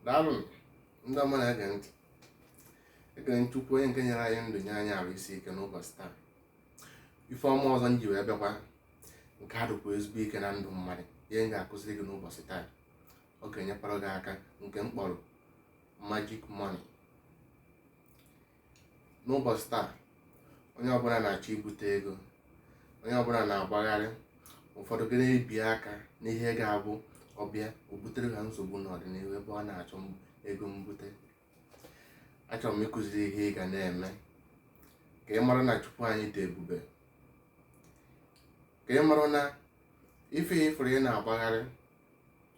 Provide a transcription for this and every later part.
daalụ ndị ọma na-ege ntị ekele m chukwu onye nke nyere anyị ndụ nye anyị arụ isi ike n'ụbọchị taa ife ọma ọzọ m ji wee bịakwa nke a dịkwa ezigbo ike na ndụ mmadụ ihe m ga-akụziri gị n'ụbọchị taa ọ ga-enyekwara gị aka nke m kpọrọ magic money n'ụbọchị taa onye ọbụla na-achọ ibute ego onye ọbụla na-agbagharị ụfọdụ ga na-ebi aka n'ihe ga-abụ ọ bịa o butere ha nsogbu n'ọdịnihu ebe ọ na-achọ m- ego mbute achọrọ m ịkụziri ihe ị ga na-eme ka ị mara na chukwu anyị dị ebube ka ị mara na ife ị fụrụ ị na-agbagharị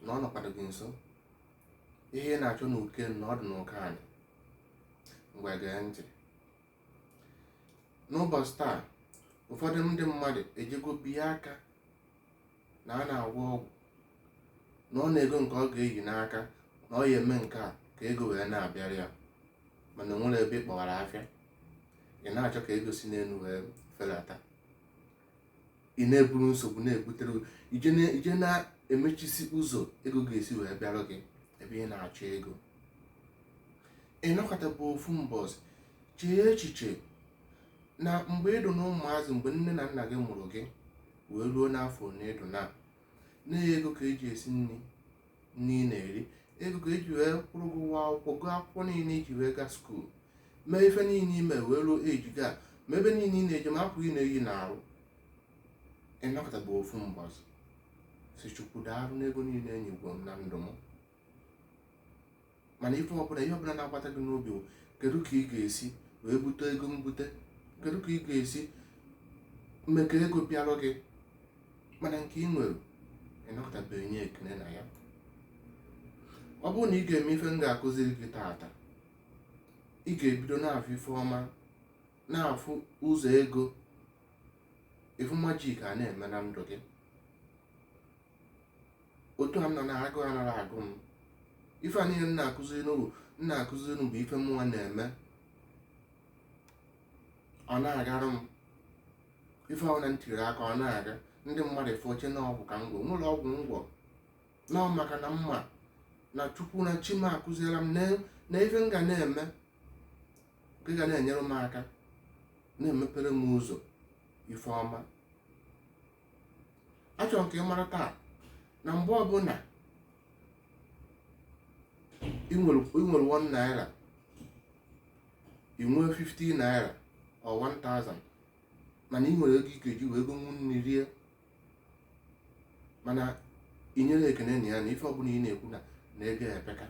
na ọ nọkwadụ gị nso ihe ị na-achọ n'uko enu na ọ dị n'uko anị ngwa gee ntị n'ụbọchị taa ụfọdụ ndị mmadụ ejego biye aka na a na-agwọ ọgwụ na ọ na-ego nke ọ ga-eyi n'aka na ọ ya eme nke a ka ego wee na-abịara ya mana o nwerọ ebe ị kpọwara afịa ị na-achọ ka ego si n'elu wee fedata ị na-eburu nsogbu na-ebutere i je na-emechisi ụzọ ego ga-esi wee bịara gị ebe ị na-achọ ego ị nọkatabu ofu mbọsị chee echiche na mgbe ị dụ na ụmụazị mgbe nne na nna gị mụrụ gị wee ruo n'afọ na ị dụ na na ya ego ka eji esi nri nri ị na-eri ego ka eji wee kwụrụ gị ụgwọ akwụkwọ gụọ akwụkwọ niile i ji wee gaa skuul mee ife niile i me wee ruo age gị a ma ebe niile ị na-eje ma akwa ị na-eyi n'arụ ị nọkatabu ofu mbọsị sị chukwu daalụ n'ego niile i nyegworo m na ndụ m mana ife ọbụla ihe ọbụla na-agbata gị n'obi bụ kedu ka ị ga-esi wee bute ego mbute kedu ka ị ga-esi mee ka ego bịarụ gị mana nke ị nwere ị nọkatabeghị nye ekele na ya ọ bụrụ na ị ga-eme ife m ga-akụziri gị taata ị ga-ebido na-afụ ife ọma na-afụ ụzọ ego ị fụ magic a na-eme na ndụ gị otu a m nọ na agụụ anaghị agụ m ife a niile m na-akụziri unu m na-akụziri unu bụ ife mụnwa na-eme ọ na-agara m ife ọbụna m tiri aka ọ na-aga ndị mmadụ afụ echee na ọgwụ ka m gwọ nwerọ ọgwụ m gwọ na ọ maka na m ma na chukwu na chi m akụziela m na ife m ga na-eme nke ga na-enyere m aka na-emepere m ụzọ ife ọma achọrọ m ka ị mara taa na mgbe ọbụla ị nwere 1 naira ị nwee 50 naira or 1000 mana ị nwere ego ị ga-eji wee gonwu nri rie mana inyerọ ekene na ya na ife ọbụla ị na-ekwu na na ego epeka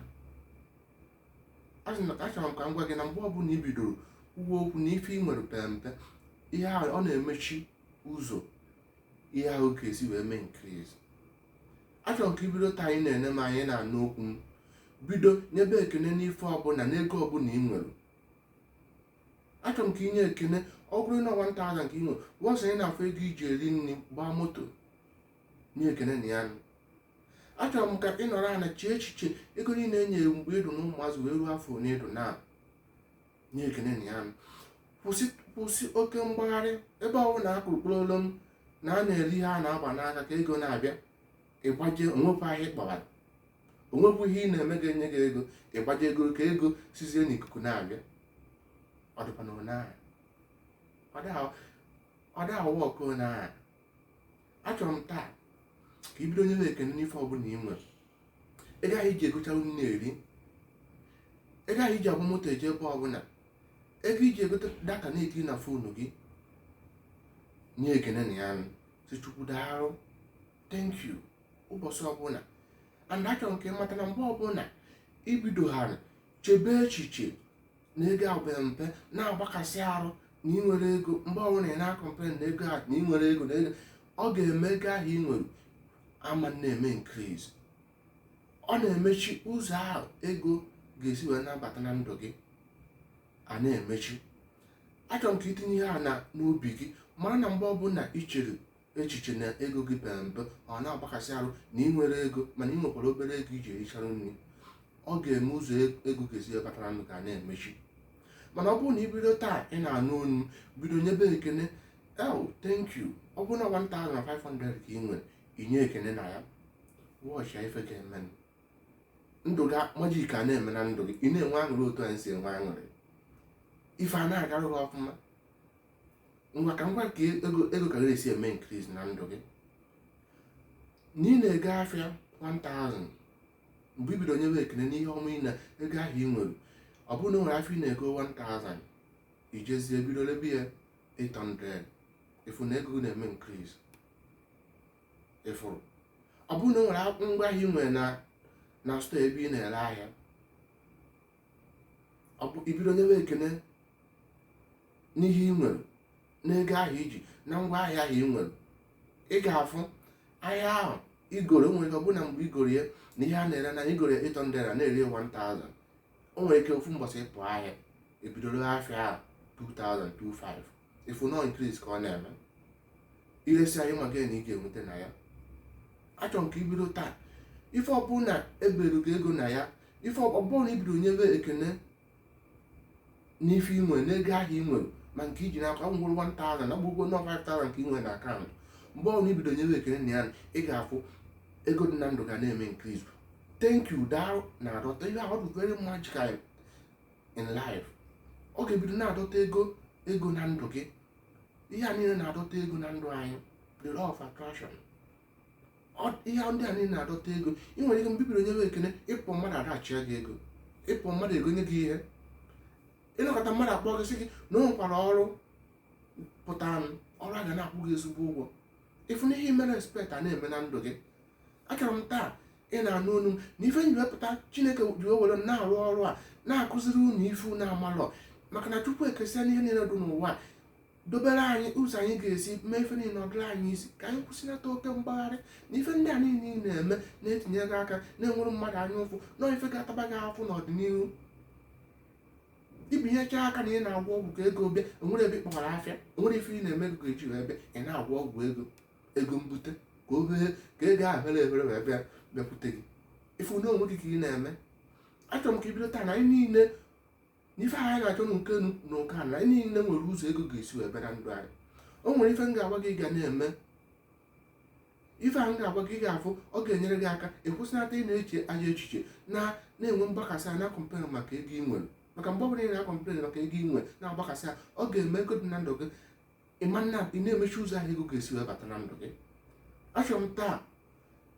achọrọ m ka m gwa gị na mgbe ọbụla i bidoro kwuwe okwu na ife ị nwere pere mpe ihe a ọ na-emechi ụzọ ihe ahụ ga-esi wee mee increase achọrọ m ka ibido taa ngị na-ene m ngị na-anụ okwu m bido nyebe ekene n'ife ọbụla n'ego ọbụla ị nwere achọrọ m ka inye ekene ọ bụrụ na 1000 ka ị nwere once ị na-afụ ego iji eri nri gbaa moto nye ekene na ya nụ. achọrọ m ka ị nọrọ ana chee echiche ego niile e nyere mgbe ịdụ na ụmụazị wee ruo afọ one ịdụ na nye ekene na ya nụ kwụsị oke mgbagharị ebe ọ bụla akpụrụ kpụrụ olu m na a na-eri ihe a na-agba n'aka ka ego na-abịa ịgbaje onwekwa ahịa ị kpọbara onwekwa ihe ị na-eme ga-enye gị ego ịgbaje ego ka ego sizie n'ikuku na-abịa ọ dịkwa na onye ahụ ọ dịghị a-work onye ahụ achọrọ m taa ka ibido nyebe ekene n'ife ọbụla ị nwere ego ahụ iji egocha nri na-eri ego ahụ iji agba moto eje ebe ọbụla ego iji egote data na-ekiri na fonu gị nye ekene na ya nụ si chukwu daalụ thank you ụbọchị ọbụla and achọrọ m ka ị mata na mgbe ọbụla ibidoghara chebe echiche na ego a pe mpe na-agbakasị arụ na ị nwerọ ego mgbe ọbụla ị na-acomplain na ego ahụ na ị nwerọ ego na ego ọ ga-eme ego ahụ ị nwere ama na-eme increase ọ na-emechi ụzọ ahụ ego ga-esi wee na-abata na ndụ gị a na-emechi achọrọ m ka itinye ihe a na n'obi gị mara na mgbe ọbụla i chere echiche na ego gị pere mpe ọ na-agbakasị arụ na ị nwerọ ego mana ị nwekwara obere ego iji erichara nri ọ ga-eme ụzọ e-, ego ga-esi ebatara nụ ga na-emechi mana ọ bụrụ na ibido taa ị na-anụ onu m bido nyebe ekene thank you ọ bụrụ na 1500 ka ị nwere inye ekene na ya watch ife ga-eme ndụ gị magic a na-eme na ndụ gị ị na-enwe aṅụrị otu anyị si enwe aṅụrị ife a na-agara gị ọfụma ngwa ka ngwa ka ego ka ga-esi eme increase na ndụ gị na ị na-ego afịa 1000 mgbe i bido nyewe ekene n'ihe ọma ị na ego ahụ ị nwere ọ bụrụ na o nwere afịa ị na-ego 1000 ijezie bido lebe ya 800 ịfụ na ego gị na-eme increase ịfụrụ ọ bụrụ na o nwere ngwa ahịa ị nwere na store ebe ị na-ere ahịa ọ bụ ibido nyewe ekene n'ihe ị nwere n'ego ahụ iji na ngwa ahịa ahụ ị nwere ị ga-afụ ahịa ahụ igoro nwere ike ọ bụrụ na mgbe igoro ya na ihe a na-ere na igoro ya 800 na-ere 1000 o nwere ike ofu mbọsị ịpụ ahịa ibido ree afịa ahụ 2025 ịfụ na ọ increase ka ọ na-eme iresịa ịma gain ị ga-enweta na ya achọrọ m ka ibido taa ife ọbụla ebere gị ego na ya ife ọbụla na ibido nyebe ekene n'ife inwe n'ego ahụ inwe ma nke iji n'aka ọ ngwụrụ 1000 na gbugbo nọ 5000 nke inwe na akaụntụ mgbe ọbụla ibido nyebe ekene na ya ị ga-afụ ego dị na ndụ gị na-eme increase thank you daalụ na-adọta ihe ahụ dị very magical in life ọ ga-ebido na-adọta ego ego na ndụ gị ihe a niile na-adọta ego na ndụ anyị the law of attraction ihe ndị a niile na-adọta ego ị nwere ike mgbe ibido nye ekene ịpụ mmadụ adashịa gị ego ịpụ mmadụ egonye gị ihe ịnọkata mmadụ akpọ gị sị gị na o nwekwara ọrụ pụtanụ ọrụ a ga na-akwụ gị ezigbo ụgwọ ịfụ na ihe mere respekt a na-eme na ndụ gị achọrọ m taa ị na-anụ olu m na ife m ji wee pụta chineke ji were m na-arụ ọrụ a na-akụziri unu ife unu amalọ maka na chukwu ekesịana ihe niile dị n'ụwa dobere anyị ụzọ anyị ga-esi mee ife niile ọdịrị anyị easy ka anyị kwụsịlata oke mgbagharị na ife ndị a niile ị na-eme na-etinye gị aka na-enwere mmadụ anya ụfụ na ife ga-ataba gị afụ n'ọdịnihu itinyecha aka na ị na-agwọ ọgwụ ka ego bịa o nwere ebe ịkpọghara afịa o nwere ife ị na-eme ego eji wee bịa ị na-agwọ ọgwụ ego mbute ka o hee ka ego ahụ mere ebere wee bịa bịakwute gị ịfụ na onwe gị ka ị na-eme achọrọ m ka ibido taa na anyị niile n'ife anyị na-achọ na nke na ụka na anyị niile nwere ụzọ ego ga-esi wee bịa na ndụ anyị o nwere ife m ga-agwa gị ga na-eme ife m ga-agwa gị afụ ọ ga-enyere gị aka ịkwụsịnata ị na-eche ajọ echiche na na-enwe mgbakasị a na-akọmplen maka ego ị nwere maka mgbe ọbụla ị na-akọmplen maka ego ị nwere na-agbakasị a ọ ga-eme ego dị na ndụ gị ịma na ị na-emechi ụzọ ahụ ego ga-esi wee bata na ndụ gị achọrọ m taa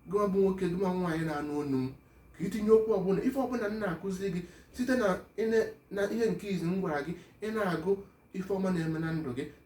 gụwa bụ nwoke gụwa nwaanyị na-anụ onu m ka itinye okwu ọbụla ife ọbụla m na-akụziri gị site na ihe nke izi m gwara gị ị na-agụ ife ọma na-eme na ndụ gị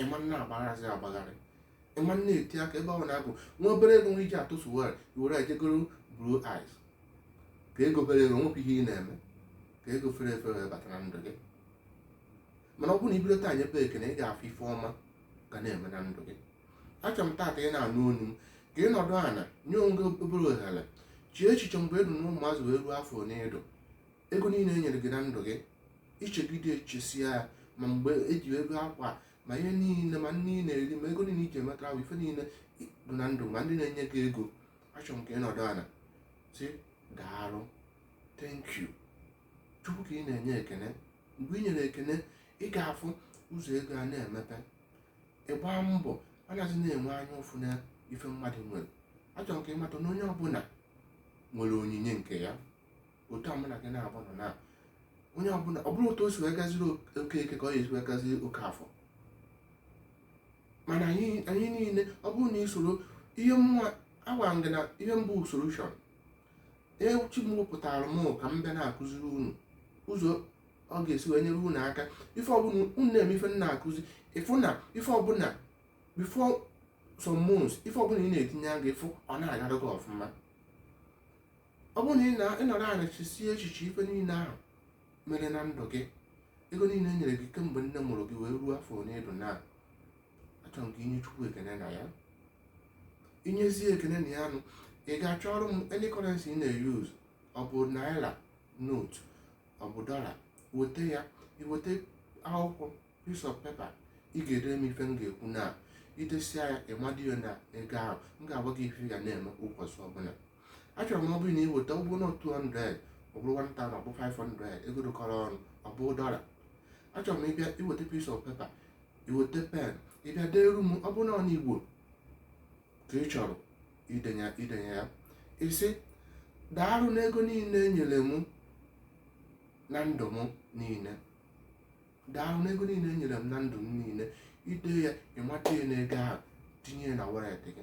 ịma na-agbagharịzị agbagharị ịma na-eti aka ebe ahụ na-agụ nwa obere ego nwa iji atụtụ were were jee goro blue eyes ka ego bere ego nwepụ ihe ị na-eme ka ego fere efe wee bata na ndụ gị mana ọ bụrụ na ibido taa nyebe ekene ị ga-afụ ife ọma ga na-eme na ndụ gị achọrọ m taata ị na-anụ onu m ka ị nọdụ ala nye onwe gị obere ohere chee echiche mgbe ị nọ n'ụmụazị wee ruo afọ ole ịdụ ego niile e nyere gị na ndụ gị ichegide echesia ya ma mgbe eji ego akwa ma ihe niile ma nri ị na-eri ma ego niile iji emeta ahụ ife niile dị na ndụ ma ndị na-enye gị ego achọrọ m ka ị nọdụ ala sị daalụ thank you chukwu ka ị na-enye ekene mgbe ị nyere ekene ị ga-afụ ụzọ ego a na-emepe ịgba mbọ anaghị na-enwe anya ụfụ na ife mmadụ nwere achọrọ m ka ị mata na onye ọbụla nwere onyinye nke ya otu a mụnwa ji na-agwa unu na onye ọbụla ọ bụrọ otu o si wee gaziri okeke ka ọ ga-esi wee gaziri okafọ mana anyị anyị niile ọ bụrụ na isoro ihe m na-agwa gị na ihe mbụ solution chi m wepụtara m ka m bịa na-akụziri unu ụzọ ọ ga-esi wee nyere unu aka ife ọbụla unu na-eme ife m na-akụzi ịfụ na ife ọbụla before some months ife ọbụla ị na-etinye aka ịfụ ọ na-agara gị ọfụma ọ bụrụ na ị nọrọ ala chesie echiche ife niile ahụ mere na ndụ gị ego niile e nyere gị kemgbe nne mụrụ gị wee ruo afọ ole ị dụ na achọrọ m ka inye chukwu ekene na ya inyezie ekene na ya nụ ị ga-achọrọ m any currency ị na-eyuz ọ bụ naira note ọ bụ dọla weta ya iweta akwụkwọ piece of paper ị ga-edere m ife m ga-ekwu na idesia ya ịmado ya na ego ahụ m ga-agwa gị ife ị ga na-eme ụbọchị ọbụla achọrọ m ọ bụrụ na ị weta ọ bụ na 200 ọ bụrụ 1000 ọ bụ 500 ego dụkọrọ ọnụ ọ bụ dọla achọrọ m ịbịa iweta piece of paper iweta pen ịbịa deeru m ọ bụrụ na ọ n'igbo ka ị chọrọ idenye idenye ya ịsị daalụ n'ego niile enyere m na ndụ m niile daalụ n'ego niile enyere m na ndụ m niile ide ya ịmado ya n'ego ahụ tinye ya na wallet gị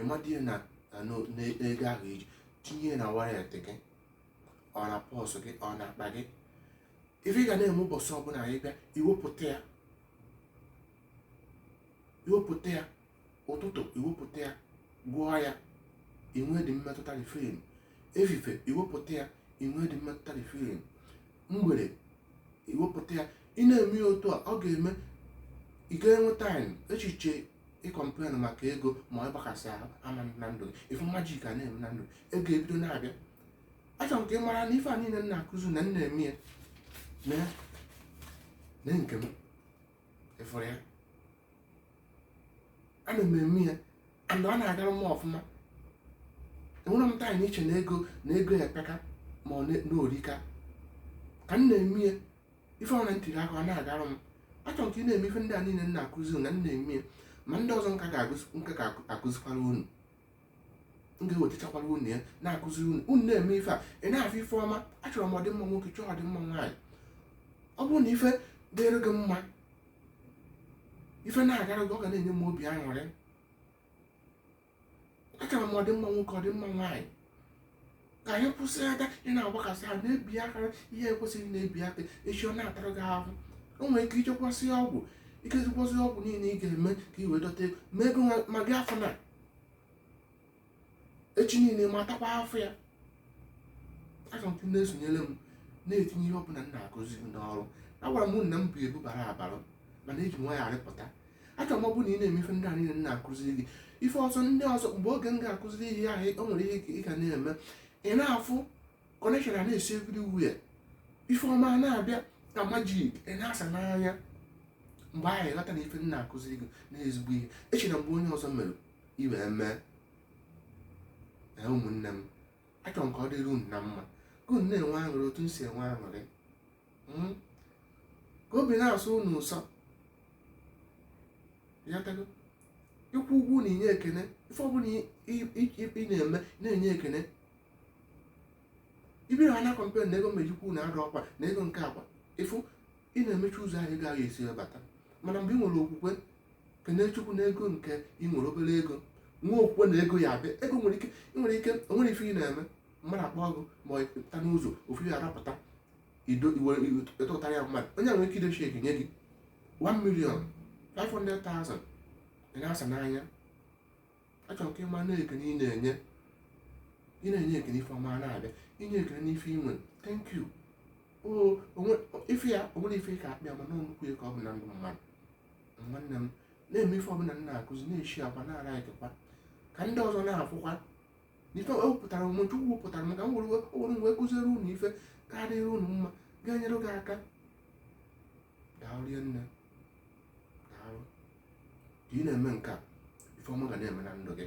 ịmado ya na na- na- n'ego ahụ i tinye na wallet gị ọ na purse gị ọ na akpa gị ife ị ga na-eme ụbọchị ọbụla ị bịa iwepụta ya iwepụta ya ụtụtụ iwepụta ya gụọ ya inwe the mmetụta the feeling efife iwepụta ya inwe the mmetụta the feeling mgbede iwepụta ya ị na-eme ya otu a ọ ga-eme ị ga-enwe time echiche ịcomplain maka ego ma ọ ịgbakasị ahụ ama na ndụ gị ịfụ magic a na-eme na ndụ ego ebido na-abịa achọrọ m ka ị mara na ife a niile m na-akụzi na m na-eme ya na na nke m ịfụrụ ya ana m eme ya and ọ na-agara m ọfụma enwerọ m time iche na ego na ego epeka ma ọ na o rika ka m na-eme ya ife ọbụla m tiri aka ọ na-agara m achọrọ m ka ị na-eme ife ndị a niile m na-akụzi na m na-eme ya ma ndị ọzọ m ka ga-akụzikwara unu m ga-ewetachakwara unu ya na-akụziri unu unu na-eme ife a ị na-afụ ife ọma achọrọ m ọdịmma nwoke chọọ ọdịmma nwaanyị ọ bụrụ na ife dịrị gị mma ife na-agara gị ọ ga na-enye m obi aṅụrị achọrọ m ọdịmma nwoke ọdịmma nwaanyị ka anyị kwụsị aka ị na-agbakasị ha na-ebi aka ihe ekwesịghị na-ebi aka echi ọ na-atara gị ahụ o nwere ike ichekwasị ọgwụ ikezikwasị ọgwụ niile ị ga-eme ka i wee dọta ego ma ego ma gị afụ na echi niile ma atakwa afụfụ ya achọrọ m ka unu na-esonyere m na-etinye ihe ọbụla m na-akụzi unu n'ọrụ agwara m unu na m bụ ebu bara abara mana eji nwayọ arịpụta achọrọ m ọ bụrụ na ị na-eme ife ndị a niile m na-akụziri gị ife ọzọ ndị ọzọ mgbe oge m ga-akụziri ihe ahụ o nwere ihe ị ga na-eme ị na-afụ connection a na-esi everywhere ife ọma a na-abịa ka magic ị na-asa n'anya mgbe ahụ ị ghọta na ife m na-akụziri gị na ezigbo ihe echena mgbe onye ọzọ mere i wee mee na ụmụnne m achọrọ m ka ọ dịrị unu na mma ka unu na-enwe aṅụrị otu m si enwe aṅụrị hmm? ka obi na-asụ unu ụsọ ị ghọtago ịkwụ ụgwọ na inye ekene ife ọbụla ị na-eme na-enye ekene ị bịa na-complain na ego mmejikwu na arụ ọkwa na ego nke akwa ị fụ ị na-emechi ụzọ ahụ ego ga-esi wee bata mana mgbe ị nwere okwukwe kenee chukwu na ego nke ị nwere obere ego nwee okwukwe na ego ya abịa ego nwere ike nwere ike nwere ife ị na-eme mmadụ akpọọ gị ma ọ pụta n'ụzọ ofu ya arapụta ido iwere ịtụtara ya mmadụ onye nwere ike idochi ego nye gị 1 million 500,000 ị na-asa n'anya achọrọ ka ị ma na ekene ị na-enye ị na-enye ekene ife ọma na-abịa inye ekene n'ife i nwe thank you ife ya o nwere ife ka akpịa mana nnukwu ife ka ọ bụ na ndụ mmadụ nwanne m na-eme ife ọbụla m na-akụzi na-sharekwa na-likekwa ka ndị ọzọ na-afụkwa n'ife ewepụtara m chukwu wepụtara m ka m wee kụziere unu ife ga-adịrị unu mma ga-enyere gị aka daalụ rinne daalụ ka ị na-eme nke a ife ọma ga na-eme na ndụ gị